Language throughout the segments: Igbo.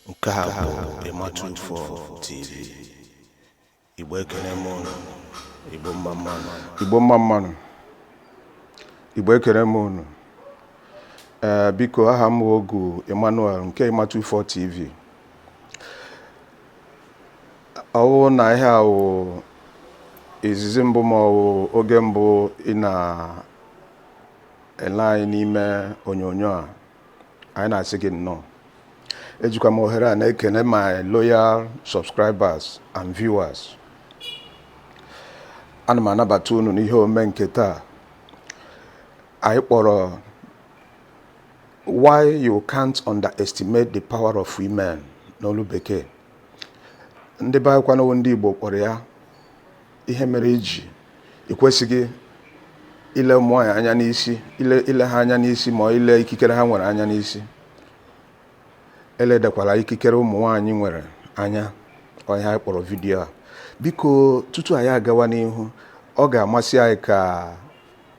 nke a bụ ematu info tv igbo ekele m unu igbo mma mma nụ igbo mma mma nụ igbo ekele m unu ee biko aha m ogu emmanuel nke ematu info tv ọ wụ na ihe a wụ izizi mbụ ma ọ wụ oge mbụ ị na ele anyị n'ime onyonyo a anyị na-asị gị nnọọ ejikwa m ohere a na-ekene my loyal subscribers and viewers ana m anabata unu n'ihe ome nke taa anyị kpọrọ why you can't underestimate the power of women n'olu bekee ndị be anyị kwanụ ndị Igbo kpọrọ ya ihe mere i ji ị kwesịghị ile ụmụ nwaanyị anya n'isi ile ile ha anya n'isi ma ọ ile ikikere ha nwere anya n'isi eledakwala ikikere ụmụ nwaanyị nwere anya ọ ihe anyị kpọrọ vidiyo a biko tutu anyị agawa n'ihu ọ ga-amasị anyị ka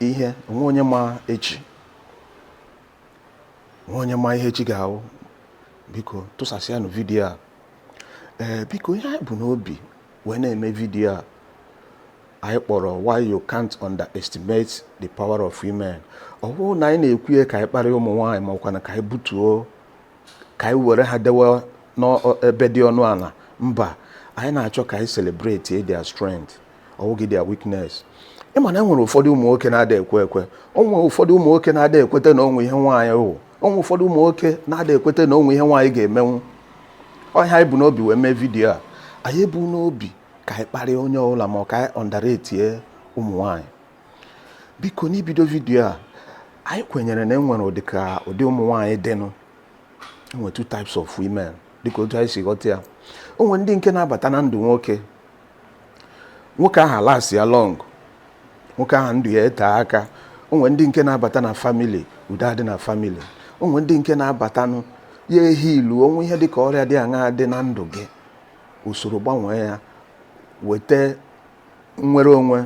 ihe o nwe onye ma echi o nwe onye ma ihe echi ga-awụ biko tụsasịanụ vidiyo a ee biko ihe anyị bu n'obi wee na-eme vidiyo a anyị kpọrọ why you can't underestimate the power of women ọ bụghị na anyị na-ekwu ya ka anyị kparịa ụmụ nwaanyị ma ọ kwanụ ka anyị butuo ka anyị were ha dewe n'ebe dị ọnụ ala mba anyị na-achọ ka anyị celebrate their strength ọ wụghị their weakness ị ma na e nwere ụfọdụ ụmụ nwoke na-ada ekwe ekwe o nwe ụfọdụ ụmụ nwoke na-ada ekweta na o nwe ihe nwaanyị wụ o nwe ụfọdụ ụmụ nwoke na-ada ekweta na o nwe ihe nwaanyị ga-emenwu ọ ihe anyị bu n'obi wee mee vidiyo a anyị ebu n'obi ka anyị kparịa onye ọbụla ma ọ ka anyị underratie ụmụ nwaanyị biko n'ibido vidiyo a anyị kwenyere na e nwere ụdị ka ụdị ụmụ nwaanyị dịnụ e nwere two types of women dịka otu anyị si ghọta ya o nwe ndị nke na-abata na ndụ nwoke nwoke ahụ alastịa long nwoke ahụ ndụ ya ete aka o nwee ndị nke na-abata na family udo adị na family o nwee ndị nke na-abatanụ ya eheal o nwee ihe dị ka ọrịa dị aṅaa dị na ndụ gị o soro gbanwee ya weta nnwere onwe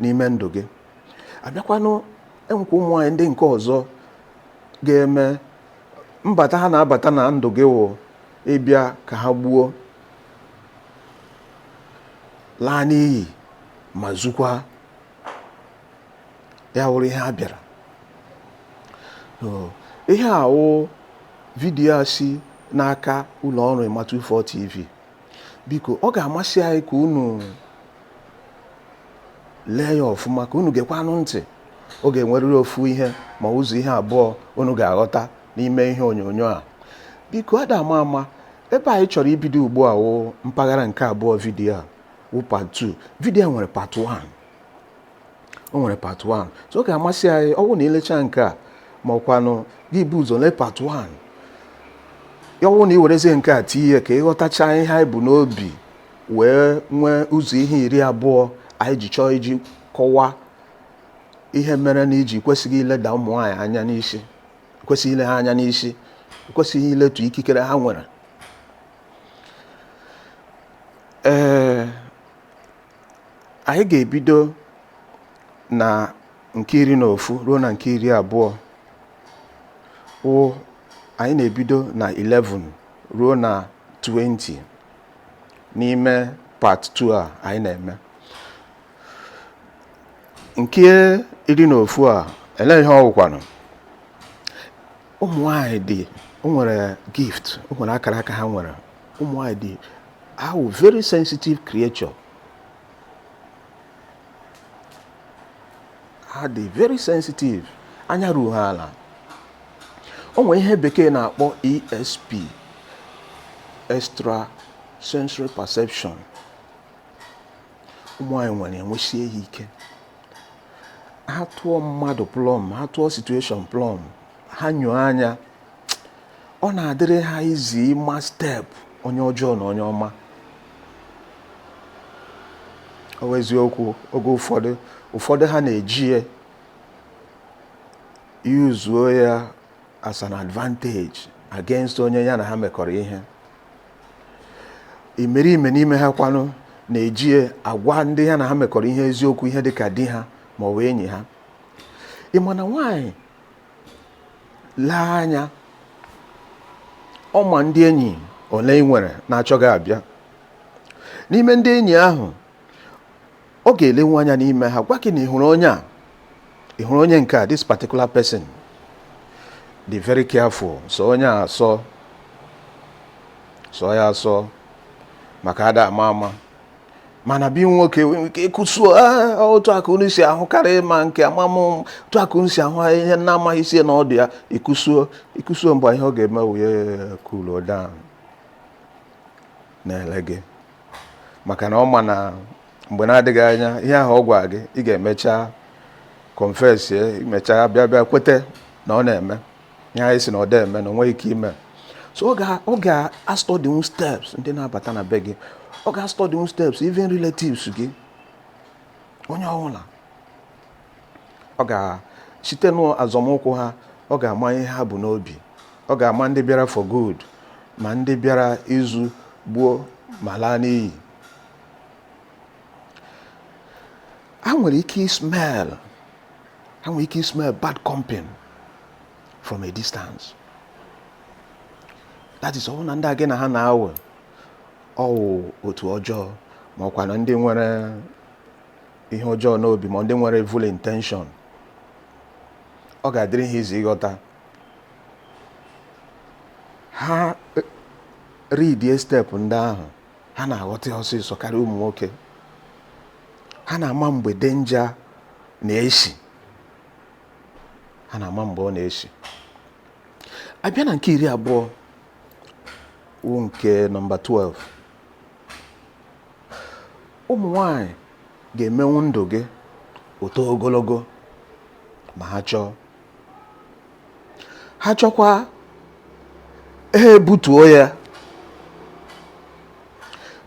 n'ime ndụ gị abịakwanụ enwekwa ụmụ nwaanyị ndị nke ọzọ ga-eme mbata ha na-abata na ndụ gị wụ ịbịa ka ha gbuo laa n'iyi ma zukwa ya wụrụ ihe ha bịara ihe a wụ vidiyo a si n'aka ụlọ ọrụ Emma 24 TV biko ọ ga-amasị anyị ka unu lee ya ọfụma ka unu gekwanụ ntị ọ ga-enwerịrị ofu ihe ma ụzọ ihe abụọ unu ga-aghọta n'ime ihe onyonyo a biko ada ama ama ebe anyị chọrọ ibido ugbu a wụ mpaghara nke abụọ vidiyo a wụ part 2 vidiyo nwere part 1 o nwere part 1 so ọ ga-amasị anyị ọ bụrụ na i lechaa nke a ma ọ kwanụ gị bu ụzọ lee part 1 ya ọ wụ na i werezie nke a tinye ka ị ghọtacha ihe anyị bu n'obi wee nwee ụzọ ihe iri abụọ anyị ji chọọ iji kọwaa ihe mere na i ji kwesịghị ileda ụmụ nwaanyị anya n'isi kwesịghị ile ha anya n'isi kwesịghị iletu ikikere ha nwere ee anyị ga-ebido na nke iri na ofu ruo na nke iri abụọ wụ anyị na-ebido na 11 ruo na 20 n'ime part 2 a anyị na-eme nke iri na ofu a elee ihe ọ wụkwanụ ụmụ nwanyị dị o nwere gift o nwere akaraka ha nwere ụmụ nwanyị dị ha wụ very sensitive creature ha dị very sensitive anya ruo ha ala o nwere ihe bekee na-akpọ ESP extra sensory perception ụmụ nwanyị nwere enwesie ya ike ha tụọ mmadụ plumb ha tụọ situation plumb ha nyoo anya ọ na-adịrị ha easy ịma step onye ọjọọ na onye ọma ọ wụ eziokwu oge ụfọdụ ụfọdụ ha na-eji ya yuzuo ya as an advantage against onye ya na ha mekọrọ ihe imerime n'ime ha kwanụ na-eji agwa ndị ya na ha mekọrọ ihe eziokwu ihe dị ka di ha ma ọ bụ enyi ha ị ma na nwaanyị lee anya ọ ma ndị enyi ole ị nwere na-achọ gị abịa n'ime ndị enyi ahụ ọ ga-elenwu anya n'ime ha gwa gị na ị hụrụ onye a ị hụrụ onye nke a this particular person be very careful sọ onye a asọ sọ ya asọ maka a da ama ama mana bi nwoke nwere ike ịkụsuo ah otu a ka unu si ahụ karịa ma nke amamụ otu a ka unu si ahụ ihe na-amaghị isi ya na ọdụ ya ịkụsuo ịkụsuo mgbe ihe ọ ga-eme wụ ya kuluo down na-ele gị maka na ọ ma na mgbe na-adịghị anya ihe ahụ ọ gwara gị ị ga-emecha kọnfesie ị mechaa bịa bịa kwete na ọ na-eme ihe a ị sị na ọ da eme na o nweghị ike ime so ọ ga-astọdinwu steps ndị na-abata na be gị ọ ga-astọdinwu steps even relatives gị onye ọbụla ọ ga site n'azọmụkwụ ha ọ ga-ama ihe ha bu n'obi ọ ga-ama ndị bịara for good ma ndị bịara izu gbuo ma laa n'iyi ha nwere ike smell ha nwere ike smell bad company from a distance that is ọ wụ na ndị a gị na ha na-awụ ọ wụ otu ọjọọ ma ọ kwanụ ndị nwere ihe ọjọọ n'obi ma ndị nwere evil intention ọ ga-adịrị ha easy ịghọta ha e, ridie step ndị ahụ ha na-aghọta ọsịsọ karịa ụmụ nwoke ha na-ama mgbe danger na-esi ha na-ama mgbe ọ na-esi a bịa na nke iri abụọ wụ nke nọmba 12 ụmụ nwanyị ga-emenwu ndụ gị ọ too ogologo ma ha chọọ ha chọkwa ha ebutuo ya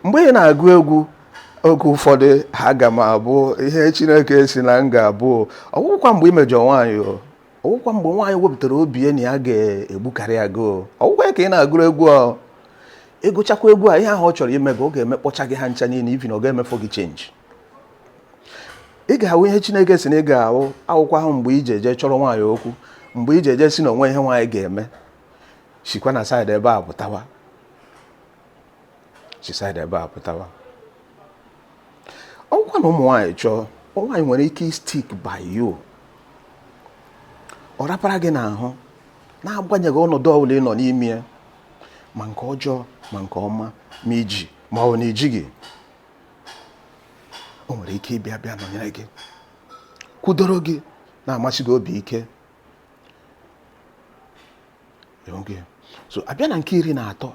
mgbe ị na-agụ egwu oge ụfọdụ aga m abụ ihe chineke sị na m ga-abụ ọ wụkwa mgbe i mejọ nwaanyị o ọ wụkwa mgbe nwaanyị wepụtara obi ya na ya ga-egbukarịa gị ọ wụkwa ya ka ị na-agụrụ egwu a ị gụchakwa egwu a ihe ahụ ọ chọrọ ime gị ọ ga-emekpọcha gị ha ncha niile even ọ ga-emefọ gị change ị ga-awụ ihe Chineke sị na ị ga-awụ ọ wụkwa mgbe i ji eje chọrọ nwaanyị okwu mgbe i ji eje sị na o nwe ihe nwaanyị ga-eme sikwa na side ebe a pụtawa si side ebe a pụtawa ọ wụkwa na ụmụ nwaanyị chọọ nwaanyị nwere ike stick by you ọ rapara gị n'ahụ na-agbanyeghị ọnọdụ ọbụla ị nọ n'ime ya ma nke ọjọọ ma nke ọma ma i ji ma ọ wụ na i jighị o nwere ike ịbịa bịa nọnyere gị kwudoro gị na-amasị gị obi ike so a bịa na nke iri na atọ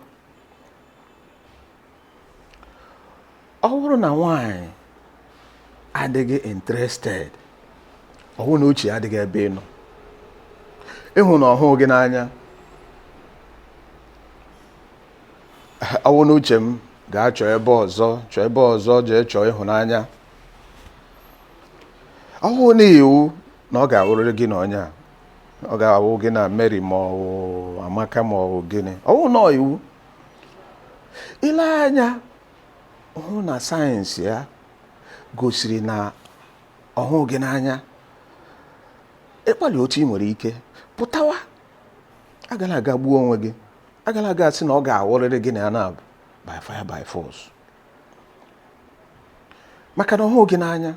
ọ wụrụ na nwanyị adịghị interested ọ wụ na uche adịghị ebe ị nọ ị hụ na ọ hụụ gị n'anya ọ wụ n'uche m ga chọọ ebe ọzọ chọọ ebe ọzọ jee chọọ ịhụnanya ọ wụụ nụ iwu na ọ ga-awụrịrị gị na onye a ọ ga-awụ gị na Mary ma ọ wụ Amaka ma ọ wụ gịnị ọ wụụ nụ iwu i lee anya hụ na signs ya gosiri na ọ hụụ gị n'anya ị gbalịa otu ị nwere ike pụtawa agala ga gbuo onwe gị agala ga sị na ọ ga-awụrịrị gị na ya na by fire by force maka na ọ hụụ gị n'anya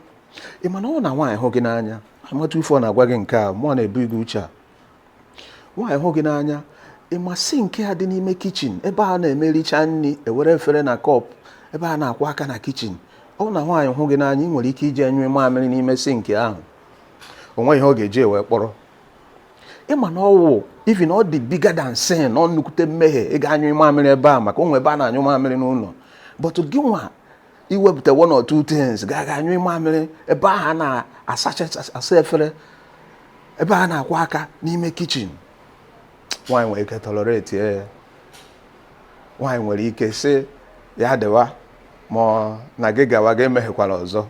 ị ma na ọ wụ na nwaanyị hụ gị n'anya amata ife ọ na-agwa gị nke a mụọ na-ebu gị uche a nwaanyị hụ gị n'anya ị ma sink a dị n'ime kitchen ebe a na-emericha nri e were efere na cup ebe a na-akwọ aka na kitchen ọ wụ na nwaanyị hụ gị n'anya ị nwere ike ije nyụọ mamịrị n'ime sink ahụ o nweghị ihe ọ ga-eji wee kpọrọ ị ma na ọ wụ even ọ dị bigger than sin ọ nnukwute mmehie ịga anyụ mamịrị ebe a maka o nwere ebe a na-anyụ mamịrị n'ụlọ but gị nwa i wepụta one or two things ga ga-anyụ mamịrị ebe ahụ a na-asasa efere ebe a na-akwọ aka n'ime kitchen nwaanyị nwere ike tolerate ya nwaanyị nwere ike sị ya dịwa mana ga-agwa gị emeghekwala ọzọ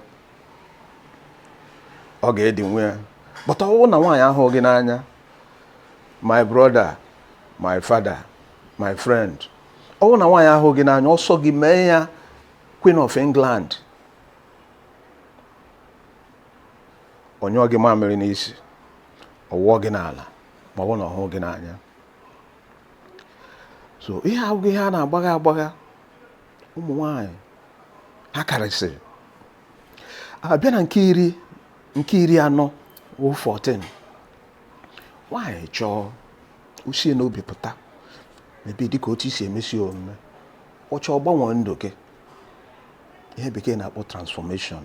ọ ga-edinwu ya but ọ wụ na nwaanyị ahụụ gị n'anya my brother my father my friend ọ wụ na nwaanyị ahụụ gị n'anya ọ sọ gị mee ya Queen of England ọ nyụọ gị mamịrị n'isi ọ wụọ gị n'ala ma ọ wụ na ọ hụụ gị n'anya so ihe a abụghị ihe a na-agbagha agbagha ụmụ nwanyị ha karịsịrị a bịa na nke iri na anọ wụ 14 nwanyị chọọ o sie n'obi pụta maybe dịka otu i si emesi omume ọ chọọ ọ gbanwee ndụ gị ihe bekee na-akpọ transformation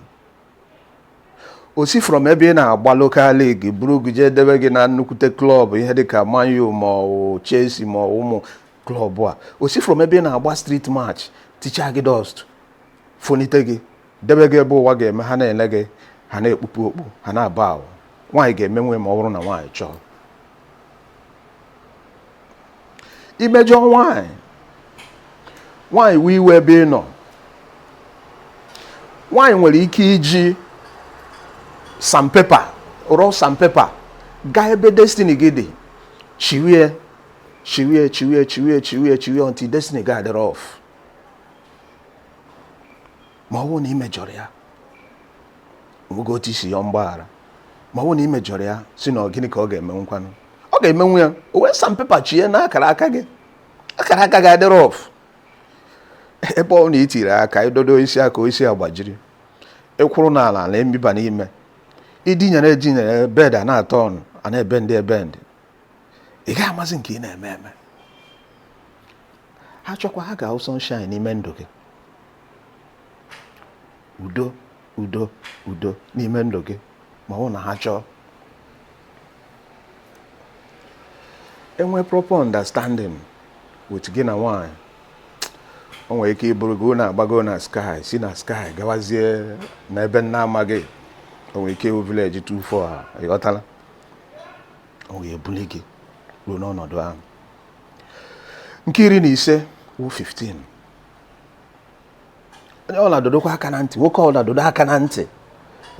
o si from ebe ị na-agba local league buru gị jee dewe gị na nnukwute club ihe dịka Man U ma ọ wụ Chelsea ma ọ wụ ụmụ klọb a o si from ebe ị na-agba street match tichaa gị dust fonite gị debe gị ebe ụwa ga-eme ha na-ele gị ha na-ekpupu okpu ha na-aba ahụ nwaanyị ga-emenwu ma ọ bụrụ na nwaanyị chọọ i mejọọ nwaanyị nwaanyị wee iwe ebe ị nọ nwaanyị nwere ike iji sandpaper raw sandpaper gaa ebe destiny gị dị chiwie chiwie chiwie chiwie chiwie chiwie until destiny gị adịrị off ma ọ bụrụ na ị mejọrọ ya nwoke otu isi ya mgbaghara ma ọ bụrụ na ị mejọrọ ya sị na ọ gịnị ka ọ ga-emenwu ngwanụ ọ ga-emenwu ya o wee sandpaper chie na akara aka gị akara aka gị adịrị off ebe ọ na i tiri aka i dodo isi aka isi agbajiri ị kwụrụ n'ala na emiba n'ime i dinyere edinyere bed a na-atọ ọnụ a na-ebe ndị ebe ndị ị gaghị amazi nke ị na-eme eme ha chọkwaa ha ga-awụ sunshine n'ime ndụ gị udo udo udo n'ime ndụ gị ma ọ wụ na ha chọọ e nwee proper understanding with gị na nwaanyị o nwere ike iburu gị na-agbago na sky si na sky gawazie n'ebe ị na-amaghị o nwere ike ịwụ village 24 ha ị ghọtala o wee buli gị ruo n'ọnọdụ ahụ nke iri na ise wụ 15 onye ọla dọdokwa aka na ntị nwoke ọla dọdo aka na ntị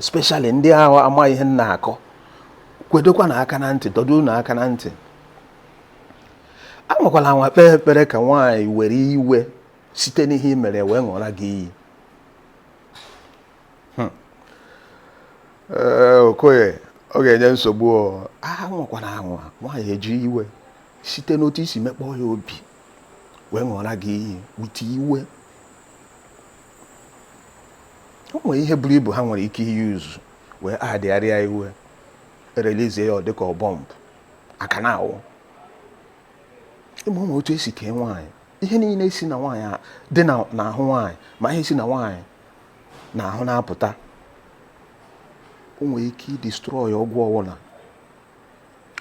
especially ndị ahụ amaghị ihe m na-akọ kwedokwanụ aka na ntị dọdonụ aka na ntị anwakwala anwa kpee ekpere ka nwaanyị were iwe site n'ihe i mere wee ṅụọra gị iyi hmm. eh, okoye ọ ga-enye nsogbu aha anwakwana anwa nwaanyị eji iwe site n'otu i si mekpọọ ya obi wee ṅụọra gị iyi with iwe o nwere ihe buru ibu ha nwere ike i-use wee adịgharịa iwe e-release ya ọ dịka bomb aka na awụ ị ma ụmụ otu e si kee nwaanyị ihe niile si na nwaanyị dị n'ahụ nwaanyị ma ihe si na nwaanyị n'ahụ na-apụta o nwere ike i-destroy ọgwụ ọwụla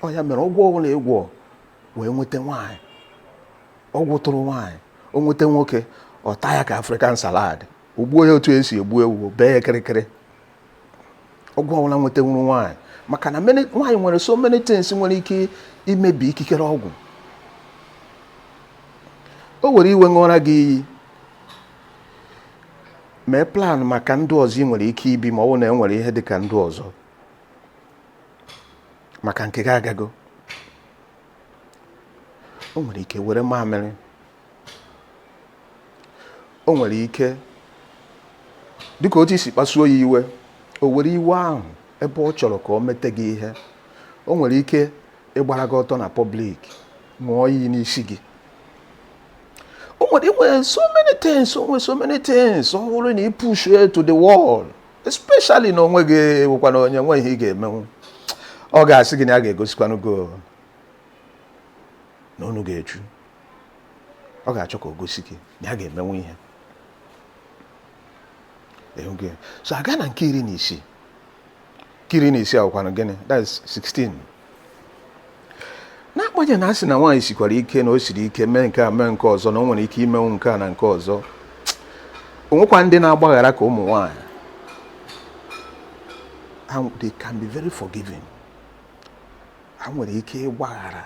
ọ ya mere ọgwụ ọwụla ị gwọọ wee nweta nwaanyị ọgwụ tụrụ nwaanyị o nweta nwoke ọ taa ya ka African salad o gbuo ya otu e si egbu ewu bee ya kịrịkịrị ọgwụ ọwụla nwetanwuru nwaanyị maka na nwaanyị nwere so many things nwere ike imebi ikikere ọgwụ o were iwe ṅụọra gị iyi mee plan maka ndụ ọzọ ị nwere ike ibi ma ọ bụ na e nwere ihe dị ka ndụ ọzọ maka nke gị agago o nwere ike were mamịrị o nwere ike dịka otu i si kpasuo ya iwe o were iwe ahụ ebe ọ chọrọ ka o mete gị ihe o nwere ike ịgbara gị ọtọ na public ṅụọ iyi n'isi gị o nwere nwere so many things o nwere so many things ọ bụrụ na ị push it to the wall especially na onwe gị ewekwa na onye nwe ihe ị ga-emenwu ọ ga-asị gị na ya ga-egosikwanụ gị o, na unu ga-echu ọ ga-achọ ka o gosi gị na ya ga-emenwu ihe so a gaa na nke iri na isii nke iri na isii awụkwanụ gịnị that's 16 n'agbanyeghị na a sị na nwaanyị sikwara ike na o siri ike mee nke a mee nke ọzọ na o nwere ike imenwu nke a na nke ọzọ o nwekwa ndị na-agbaghara ka ụmụ nwaanyị they can be very forgiving ha nwere ike ịgbaghara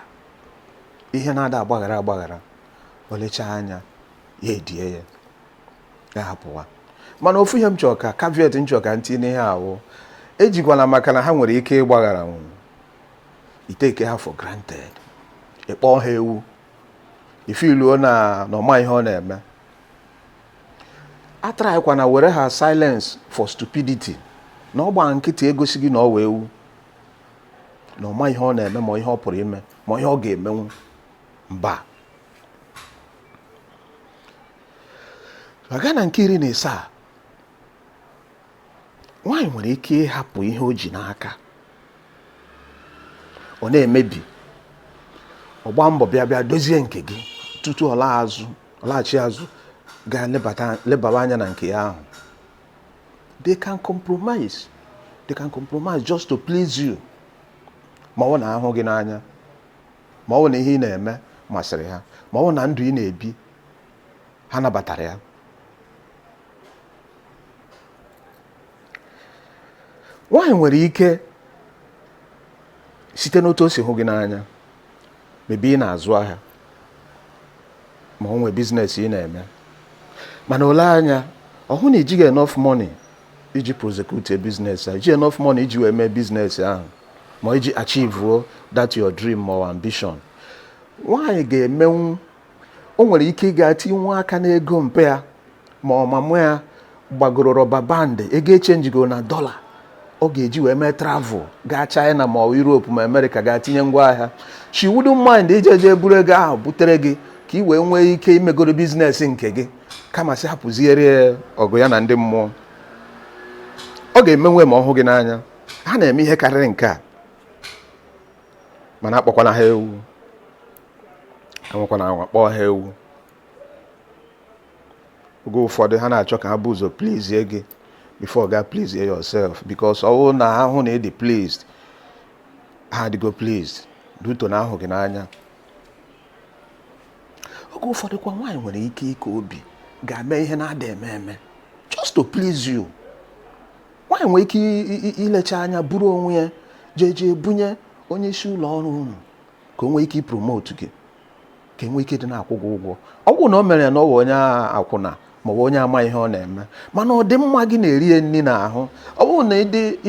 ihe na-ada agbaghara agbaghara o lechaa anya ya edie ya ya hapụwa mana ofu ihe m chọrọ ka caveat m chọrọ ka m tinye n'ihe a wụ ejikwana maka na ha nwere ike ịgbagharanwu ị take ha for granted ịkpọ ha ewu ifiluo na ọ ma ihe ọ na-eme atraịkwana were ha silence for stupidity na ọ gbaa nkịtị egosighị na ọ wụ ewu na ọ ma ihe ọ na-eme ma ihe ọ pụrụ ime ma ihe ọ ga-emenwu mba a gaa na nke iri na asaa nwaanyị nwere ike ịhapụ ihe o ji n'aka ọ na-emebi ọ gbaa mbọ bịa bịa dozie nke gị tutu ọ laghachi azụ gaa lebara anya na nke ya ahụ they can compromise just to please you ma ọ wụ na ha hụ gị n'anya ma ọ wụ na ihe ị na-eme masịrị ha ma ọ wụ na ndụ ị na-ebi ha nabatara ya nwaanyị nwere ike site n'otu o si hụ gị n'anya maybe ị na-azụ ahịa ma ọ nwee business ị na-eme mana o lee anya ọ hụ na i jighị enough money iji prosecute business ahụ iji enough money iji wee mee business ahụ ma iji achieve that your dream or ambition nwaanyị ga-emenwu o nwere ike ịga tinwe aka n'ego mpa ya ma ọ mama ya gbagoro rubber band ego echenjigo na dollar ọ ga-eji wee mee travel gaa China ma ọ Europe ma America gaa tinye ngwa ahịa she wouldn't mind ije jee buru ego ahụ butere gị ka ị wee nwee ike imegoro business nke gị kama sị hapụziere ọgụ ya na ndị mmụọ ọ ga-emenwe ma ọ hụ gị n'anya ha na-eme ihe karịrị nke a mana akpọkwana ha ewu anwakwana anwa kpọọ ha ewu oge ụfọdụ ha na-achọ ka ha bu ụzọ please gị before ga please yourself because ọ bụrụ na ha hụ na ị dị pleased ha adịgo pleased due to na ha hụ gị n'anya oge ụfọdụ kwa nwaanyị nwere ike ike obi gaa mee ihe na-ada eme eme just to please you nwaanyị nwere ike ilecha anya buru onwe ya jee jee bunye onye isi ụlọ ọrụ unu ka o nwee ike ipromote gị ka e nwee ike dị na-akwụ gị ụgwọ ọ bụrọ na o mere ya na ọ bụ onye akwụna ma ọ bụ onye ama ihe ọ na-eme mana ọdịmma gị na-eri ya nri n'ahụ ọ bụrụ na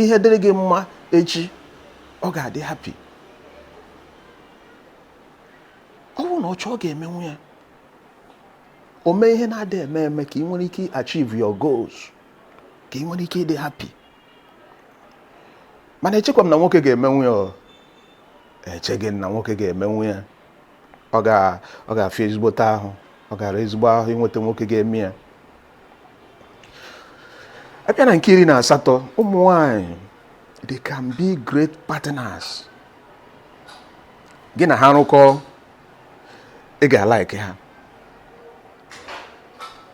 ihe dịrị gị mma echi ọ ga-adị happy ọ bụrụ na ọ chọọ ọ ga-emenwu ya o mee ihe na-ada eme eme ka ị nwere ike achieve your goals ka ị nwere ike ịdị happy mana echekwa m na nwoke ga-emenwu ya echeghị m na nwoke ga-emenwu ya ọ ga-afịa ezigbote ahụ ọ ga-ara ezigbo ahụ inweta nwoke ga-eme ya a bịa na nke iri na asatọ ụmụ nwanyị they can be great partners gị na ha rụkọ ị ga-alike ha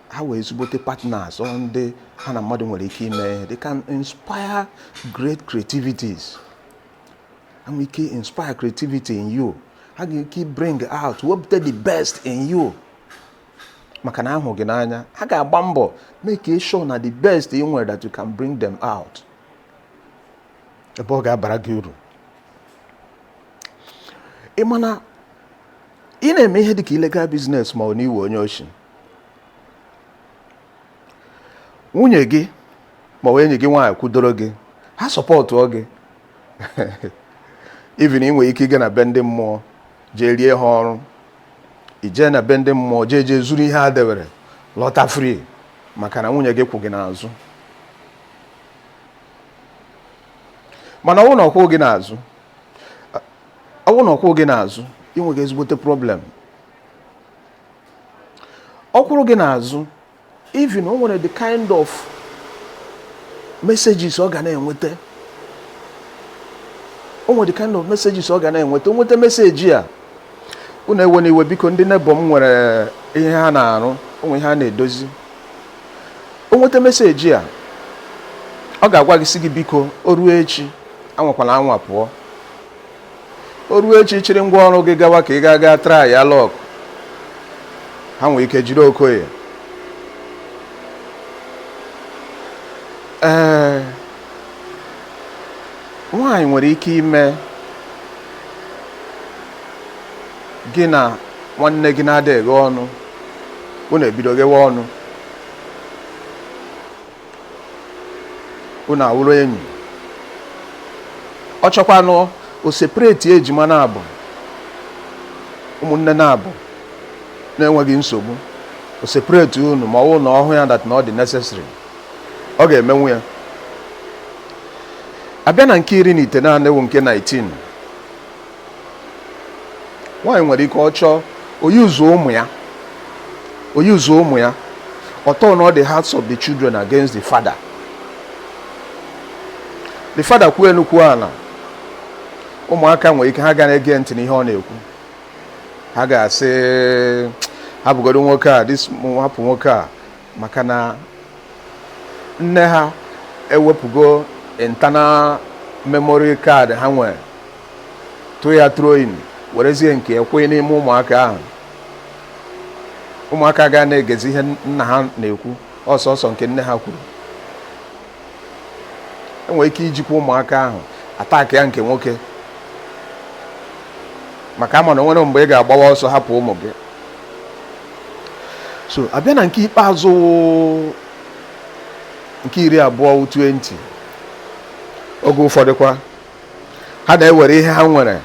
ha wụ ezigbote partners ọ ndị ha na mmadụ nwere ike ime ihe they can inspire great creativities ha nwere ike inspire creativity in you ha ga-enwe ike bring out wepụta the best in you maka na ha hụ gị n'anya ha ga-agba mbọ make sure na the best ị nwere that you can bring them out ebe ọ ga-abara gị uru ị ma na ị na-eme ihe dịka illegal business ma ọ na ị wụ onye oshi nwunye gị ma ọ enyi gị nwaanyị kwudoro gị ha supportụọ gị even ị nwere ike ịga na be ndị mmụọ jee rie ha ọrụ i jee na be ndị mmụọ jee jee zuru ihe ha dewere lọta free maka na nwunye gị kwụ gị n'azụ mana ọ wụ na ọ kwụ gị n'azụ ọ wụ na ọ kwụ gị n'azụ i nweghị ezigbote problem ọ kwụrụ gị n'azụ even o nwere the kind of messages ọ ga na-enweta o nwere the kind of messages ọ ga na-enweta o nweta message a unu ewena iwe biko ndị neighbour m nwere ihe ha na-arụ o nwe ihe ha na-edozi o nweta message a ọ ga-agwa gị sị gị biko o ruo echi anwakwala anwa pụọ o ruo echi chịrị ngwa ọrụ gị gawa ka ị gaa gaa try your luck ha nwere ike jiri okoye ee nwanyị nwere ike ime gị na nwanne gị na-ada eghe ọnụ unu ebido ghewe ọnụ unu awụrụ enyi ọ chọkwanụ o separate ejima naabọ ụmụnne naabọ na-enweghị nsogbu o separate unu ma ọ wụ na ọ hụ ya that na ọ dị necessary ọ ga-emenwu ya abịa na nke iri na itenaanị wụ nke 19 nwaanyị nwere ike ọ chọọ o use ụmụ ya o use ụmụ ya ọ turn all the hearts of the children against the father the father kwuo elu kwuo ala ụmụaka nwere ike ha ga na-ege ntị n'ihe ọ na-ekwu ha ga-asị hapụgodo nwoke a hapụ nwoke a maka na nne ha ewepụgo internal memory card ha nwere tụ ya throwing werezie nke ekwe n'ime ụmụaka ahụ ụmụaka aga na-egezi ihe nna ha na-ekwu ọ sọọsọ nke nne ha kwuru enwere ike ijikwa ụmụaka ahụ attack ya nke nwoke maka a ma na o nwere mgbe ị ga-agbawa ọsọ hapụ ụmụ gị so abịa na nke ikpeazụ wụ nke iri abụọ wụ 20 oge ụfọdụkwa ha na-ewere ihe ha nwere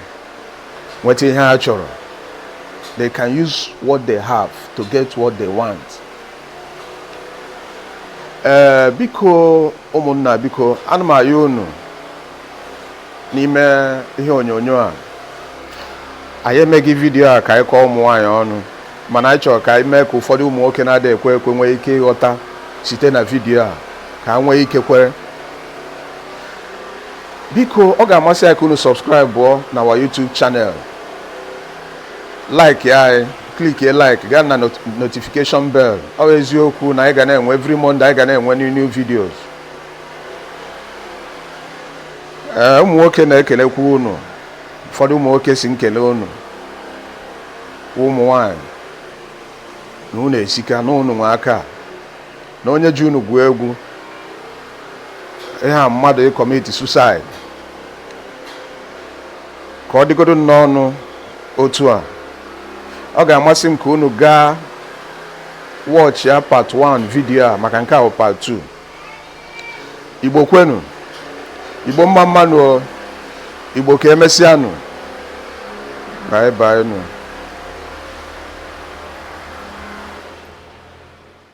nweta ihe ha chọrọ they can use what they have to get what they want ee eh, biko ụmụnna biko ana m ayọ unu n'ime ihe onyonyo a anyị emeghị vidiyo a ka anyị kọọ ụmụ nwaanyị ọnụ mana anyị chọrọ ka anyị mee ka ụfọdụ ụmụ nwoke na-adịghị ekwe ekwe nwee ike ịghọta site na vidiyo a ka ha nwee ike kwere biko ọ ga-amasị anyị ka unu subscribeọ na our YouTube channel like anyị clickie like gaa na notification bell ọ bụ eziokwu na anyị ga na-enwe every Monday anyị ga na-enwe new new videos ee ụmụ nwoke na-ekelekwa unu ụfọdụ ụmụ nwoke sị m kele unu ụmụ nwanyị na unu esika na unu nwe aka na onye ji unu gwuo egwu ihe a mmadụ ịkọmiti suicide ka ọ dịgodo n'ọnụ otu a ọ ga-amasị m ka unu gaa watch ya part 1 video a maka nke a wụ part 2 igbo kwenu igbo mma mmanụ igbo ka emesịanụ bye bye nụ